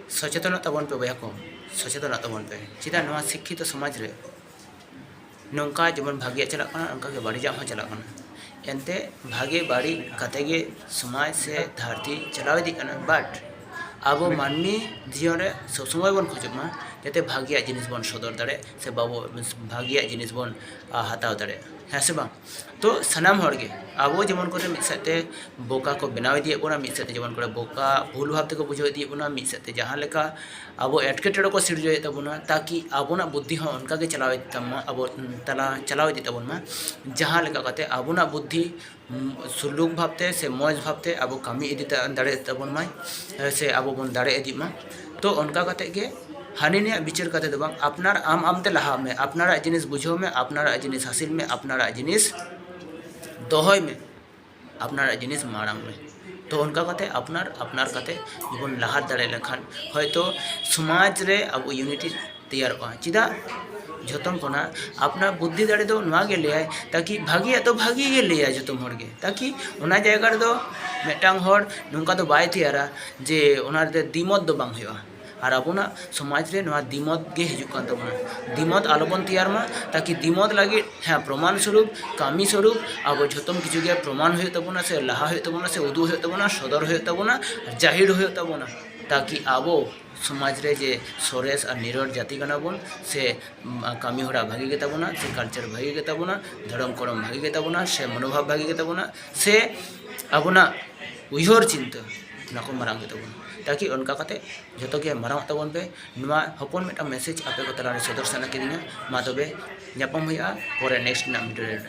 ᱥᱚᱪᱮᱛᱚᱱᱚᱜ ᱛᱟᱵᱚᱱ ᱯᱮ ᱵᱚᱭᱦᱟ ᱠᱚ ᱥᱚᱪᱮᱛᱚᱱᱚᱜ ᱛᱟᱵᱚᱱ ᱯᱮ ᱪᱮᱫᱟᱜ ᱱᱚᱣᱟ ᱥᱤᱠᱠᱷᱤᱛᱚ ᱥᱚᱢᱟᱡᱽ ᱨᱮ ᱱᱚᱝᱠᱟ ᱡᱮᱢᱚᱱ ᱵᱷᱟᱜᱮᱭᱟᱜ ᱪᱟᱞᱟᱜ ᱠᱟᱱᱟ ᱚᱱᱠᱟ ᱜᱮ ᱵᱟᱹᱲᱤᱡᱟᱜ ᱦᱚᱸ ᱪᱟᱞᱟᱜ ᱠᱟᱱᱟ ᱮᱱᱛᱮ ᱵᱷᱟᱜᱮ ᱵᱟᱹᱲᱤᱡ ᱠᱟᱛᱮ ᱜᱮ ᱥᱚᱢᱟᱡᱽ ᱥᱮ ᱫᱷᱟᱹᱨᱛᱤ ᱪᱟᱞᱟᱣ ᱤᱫᱤᱜ ᱠᱟᱱᱟ ᱵᱟᱴ ᱟᱵᱚ ᱢᱟᱹᱱᱢᱤ ᱡᱤᱭᱚᱱ ᱨᱮ ᱥᱚᱵ ᱥᱚᱢᱚᱭ ᱵᱚᱱ ᱠᱷᱚᱡᱚᱜ ᱢᱟ ᱡᱟᱛᱮ ᱵᱷᱟᱜᱮᱭᱟᱜ ᱡᱤᱱᱤᱥ ᱵᱚᱱ ᱥᱚᱫᱚᱨ ᱫᱟᱲᱮᱜ ᱥᱮ ᱵᱟᱵᱚ ᱵᱷᱟᱜᱮᱭᱟᱜ ᱡᱤᱱᱤᱥ ᱵᱚᱱ ᱦᱟᱛᱟᱣ ᱫᱟᱲᱮᱜ ᱦᱮᱸ ᱥᱮ ᱵᱟᱝ ᱛᱚ ᱥᱟᱱᱟᱢ ᱦᱚᱲ ᱜᱮ ᱟᱵᱚ ᱡᱮᱢᱚᱱ ᱠᱚᱨᱮ ᱢᱤᱫ ᱥᱮᱫ ᱛᱮ ᱵᱚᱠᱟ ᱠᱚ ᱵᱮᱱᱟᱣ ᱤᱫᱤᱭᱮᱫ ᱵᱚᱱᱟ ᱢᱤᱫ ᱥᱮᱫ ᱛᱮ ᱡᱮᱢᱚᱱ ᱠᱚᱨᱮ ᱵᱚᱠᱟ ᱵᱷᱩᱞ ᱵᱷᱟᱵᱽ ᱛᱮᱠᱚ ᱵᱩᱡᱷᱟᱹᱣ ᱤᱫᱤᱭᱮᱫ ᱵᱚᱱᱟ ᱢᱤᱫ ᱥᱮᱫ ᱛᱮ ᱡᱟᱦᱟᱸ ᱞᱮᱠᱟ ᱟᱵᱚ ᱮᱴᱠᱮᱴᱚᱬᱮ ᱠᱚ ᱥᱤᱨᱡᱟᱹᱣᱮᱫ ᱛᱟᱵᱚᱱᱟ ᱛᱟᱠᱤ ᱟᱵᱚᱱᱟᱜ ᱵᱩᱫᱽᱫᱷᱤ ᱦᱚᱸ ᱚᱱᱠᱟ ᱜᱮ ᱪᱟᱞᱟᱣ ᱤᱫᱤᱜ ᱛᱟᱵᱚᱱ ᱢᱟ ᱟᱵᱚ ᱛᱟᱞᱟ ᱪᱟᱞᱟᱣ ᱤᱫᱤᱜ ᱛᱟᱵᱚᱱ ᱢᱟ ᱡᱟᱦᱟᱸ ᱞᱮᱠᱟ ᱠᱟᱛᱮ ᱟᱵᱚᱱᱟᱜ ᱵᱩᱫᱽᱫᱷᱤ ᱥᱩᱞᱩᱠ ᱵᱷᱟᱵᱽ ᱛᱮ ᱥᱮ ᱢᱚᱡᱽ ᱵᱷᱟᱵᱽ ᱛᱮ ᱟᱵᱚ ᱠᱟᱹᱢᱤ ᱤᱫᱤ ᱫᱟᱲᱮᱭᱟᱜ ᱛᱟᱵᱚᱱ ᱢᱟᱭ ᱥᱮ ᱟᱵᱚ ᱵᱚᱱ ᱫᱟᱲᱮ ᱤᱫᱤᱜ ᱢᱟ ᱛᱚ ᱚᱱᱠᱟ ᱠᱟᱛᱮ ᱜᱮ ᱦᱟᱹᱱᱤ ᱱᱟᱹᱭᱟᱜ ᱵᱤᱪᱟᱹᱨ ᱠᱟᱛᱮ ᱫᱚ ᱵᱟᱝ ᱟᱯᱱᱟᱨ ᱟᱢ ᱟᱢ ᱛᱮ ᱞᱟᱦᱟᱜ ᱢᱮ ᱟᱯᱱᱟᱨᱟᱜ ᱡᱤᱱᱤᱥ ᱵᱩᱡᱷᱟᱹᱣ ᱢᱮ ᱟᱯᱱᱟᱨᱟᱜ ᱡᱤᱱᱤᱥ ᱦᱟᱹᱥᱤᱞ ᱢᱮ ᱟᱯᱱᱟᱨᱟᱜ ᱡᱤᱱᱤᱥ ᱫᱚᱦᱚᱭ ᱢᱮ ᱟᱯᱱᱟᱨᱟᱜ ᱡᱤᱱᱤᱥ ᱢᱟᱲᱟᱝ ᱢᱮ ᱛᱚ ᱚᱱᱠᱟ ᱠᱟᱛᱮ ᱟᱯᱱᱟᱨ ᱟᱯᱱᱟᱨ ᱠᱟᱛᱮ ᱵᱚᱱ ᱞᱟᱦᱟ ᱫᱟᱲᱮ ᱞᱮᱱᱠᱷᱟᱱ ᱦᱚᱭᱛᱳ ᱥᱚᱢᱟᱡᱽ ᱨᱮ ᱟᱵᱚ ᱤᱭᱩᱱᱤᱴᱤ ᱛᱮᱭᱟᱨᱚᱜᱼᱟ ᱪᱮᱫᱟᱜ ᱡᱚᱛᱚᱱ ᱠᱷᱚᱱᱟᱜ ᱟᱯᱱᱟᱨ ᱵᱩᱫᱽᱫᱷᱤ ᱫᱟᱲᱮ ᱫᱚ ᱱᱚᱣᱟ ᱜᱮ ᱞᱟᱹᱭᱟᱭ ᱛᱟᱠᱤ ᱵᱷᱟᱹᱜᱤᱭᱟᱜ ᱫᱚ ᱵᱷᱟᱹᱜᱤ ᱜᱮ ᱞᱟᱹᱭᱟᱭ ᱡᱚᱛᱚ ᱦᱚᱲ ᱜᱮ ᱛᱟᱠᱤ ᱚᱱᱟ ᱡᱟᱭᱜᱟ ᱨᱮᱫᱚ ᱢᱤᱫᱴᱟᱝ ᱦᱚᱲ ᱱᱚᱝᱠᱟ ᱫᱚ ᱵᱟᱭ ᱛᱮᱭᱟᱨᱟ ᱡᱮ ᱚᱱᱟ ᱨᱮᱫᱚ ᱫᱤᱢᱚᱛ ᱫᱚ ᱵᱟᱝ ᱦᱩᱭᱩᱜᱼᱟ ᱟᱨ ᱟᱵᱚᱱᱟᱜ ᱥᱚᱢᱟᱡᱽ ᱨᱮ ᱱᱚᱣᱟ ᱫᱤᱢᱚᱛ ᱜᱮ ᱦᱤᱡᱩᱜ ᱠᱟᱱ ᱛᱟᱵᱚᱱᱟ ᱫᱤᱢᱚᱛ ᱟᱞᱚ ᱵᱚᱱ ᱛᱮᱭᱟᱨ ᱢᱟ ᱛᱟᱠᱤ ᱫᱤᱢᱚᱛ ᱞᱟᱹᱜᱤᱫ ᱦᱮᱸ ᱯᱨᱚᱢᱟᱱ ᱥᱚᱨᱩᱯ ᱠᱟᱹᱢᱤ ᱥᱚᱨᱩᱯ ᱟᱵᱚ ᱡᱚᱛᱚᱢ ᱠᱤᱪᱷᱩ ᱜᱮ ᱯᱨᱚᱢᱟᱱ ᱦᱩᱭᱩᱜ ᱛᱟᱵᱚᱱᱟ ᱥᱮ ᱞᱟᱦᱟ ᱦᱩᱭᱩᱜ ᱛᱟᱵᱚᱱᱟ ᱥᱮ ᱩᱫᱩᱜ ᱦᱩᱭᱩᱜ ᱛᱟᱵᱚᱱᱟ ᱥᱚᱫᱚᱨ ᱦᱩᱭᱩᱜ ᱛᱟᱵᱚᱱᱟ ᱡᱟᱹᱦᱤᱨ ᱦᱩᱭᱩᱜ ᱛᱟᱵᱚᱱᱟ ᱛᱟᱠᱤ ᱟᱵᱚ ᱥᱚᱢᱟᱡᱽ ᱨᱮ ᱡᱮ ᱥᱚᱨᱮᱥ ᱟᱨ ᱱᱤᱨᱚᱲ ᱡᱟᱹᱛᱤ ᱠᱟᱱᱟ ᱵᱚᱱ ᱥᱮ ᱠᱟᱹᱢᱤ ᱦᱚᱨᱟ ᱵᱷᱟᱹᱜᱤ ᱜᱮᱛᱟ ᱵᱚᱱᱟ ᱥᱮ ᱠᱟᱞᱪᱟᱨ ᱵᱷᱟᱹᱜᱤ ᱜᱮᱛᱟ ᱵᱚᱱᱟ ᱫᱷᱚᱨᱚᱢ ᱠᱚᱨᱚᱢ ᱵᱷᱟᱹᱜᱤ ᱜᱮᱛᱟ ᱵᱚᱱᱟ ᱥᱮ ᱢᱚᱱᱳᱵᱷᱟᱵᱽ ᱵᱷᱟᱹᱜᱤ ᱜᱮᱛᱟ ᱵᱚᱱᱟ ᱥᱮ ᱟᱵᱚᱱᱟᱜ ᱩᱭᱦᱟᱹᱨ ᱪᱤᱱᱛᱟᱹ ᱚᱱᱟ ᱠᱚ ᱢᱟᱨᱟᱝ ᱜᱮᱛᱟ ᱵᱚᱱᱟ ᱛᱟᱠᱤ ᱚᱱᱠᱟ ᱠᱟᱛᱮ ᱡᱚᱛᱚ ᱜᱮ ᱢᱟᱨᱟᱝ ᱚᱜ ᱛᱟᱵᱚᱱ ᱯᱮ ᱱᱚᱣᱟ ᱦᱚᱯᱚᱱ ᱢᱤᱫᱴᱟᱝ ᱢᱮᱥᱮᱡᱽ ᱟᱯᱮ ᱠᱚ ᱛᱟᱞᱟ ᱨᱮ ᱥᱚᱫᱚᱨ ᱥᱟᱱᱟ ᱠᱤᱫᱤᱧᱟ ᱢᱟ ᱛᱚᱵᱮ ᱧᱟᱯᱟᱢ ᱦᱩᱭᱩᱜᱼᱟ ᱯᱚᱨᱮ ᱱᱮᱠᱥᱴ ᱨᱮᱱᱟᱜ ᱵᱷᱤᱰᱤᱭᱳ ᱨᱮ